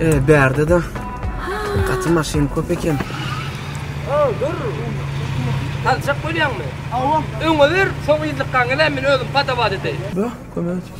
Eee, bärde de gaty maşyn köp eken. Aw, dur. Aljak bolýaňmy? Awa. Öňe ber, soň yzlykgaňy men özüm padawa edeýin. Bö, kömek et.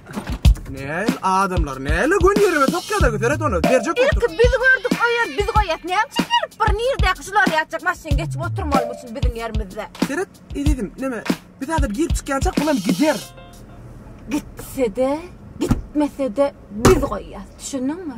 Näl adamlar, näle gün ýerime sokýarlar, seret ony, berjek bolsun. Ilki biz gördük o ýer, biz goýýas. Näme üçin gelip bir nirdäki şular ýatjak maşyn geçip oturmalymy üçin biziň ýerimizde. Seret, ezizim, näme, biz häzir girip çykýançak bulam gider. Gitsede, gitmesede biz goýýas, düşündiňmi?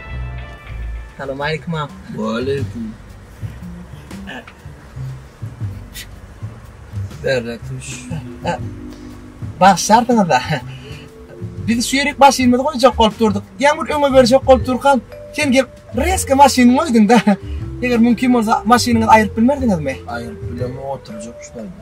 Salam aleýkum agam. Waleýkum. Berle tuş. Bagşarsyňyz-da. Biz şu ýerik maşynymyzy goýjak bolup durduk. Ýaňyr öňe berjek bolup durkam, sen gelip reska maşyny goýduň-da. Eger mümkin bolsa maşynyňyzy aýryp bilmerdiňizmi? Aýryp bilemok, oturjak şu taýda.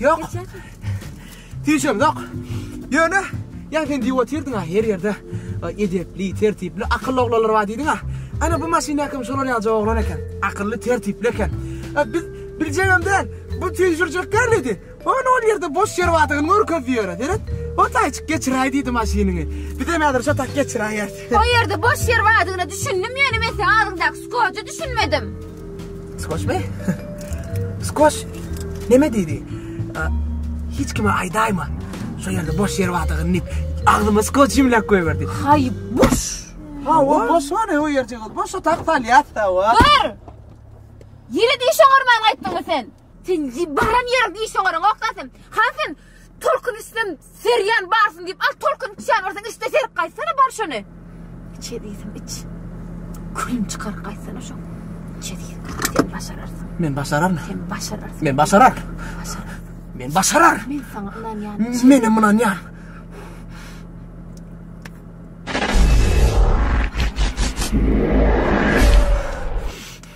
Ýok. Hiç hem ýok. Ýöne, ýa sen diýip otyrdyň-a, her ýerde edepli, tertipli, akylly oglanlar bar diýdiň-a. Ana, bu maşyndaky hem şolar ýaly oglan eken. Akylly, tertipli eken. Biz biljegem däl, bu tüýşürjek däl diýdi. Ony ol ýerde boş ýer bardygyny görkezdi ýöne. Seret, o taýçyk geçiräý diýdi maşynyňy. Bizem häzir şo tak geçiräýeris. O ýerde boş ýer bardygyna düşündim, ýöne men seň agzyňdaky skoja düşünmedim. Skoşmy? Skoş neme diýdi? Hiç kime aýdaýma. Şu ýerde boş ýer bardygyny diýip, agzyma skoş jimläp goýberdi. Haý, boş. Ha, o boş bar, o ýerje gal. Boş otak salýatsa wa. Dur! Ýere diş oňarman gaýtdyňmy sen? Sen baran ýeriň diş oňaryň, okdansyn. Hansyn, Tolkun içsem serýan barsyn diýip al tolkun içýän bolsaň içde serip gaýtsana bar şony. Iç ezizim iç. Külün çykar gaýtsana şo. Iç ezizim sen başararsyň. Men başararyn. Sen başararsyň. Men başarar. Başarar. Men başarar. Men saňa ynanýan. Men hem ynanýan.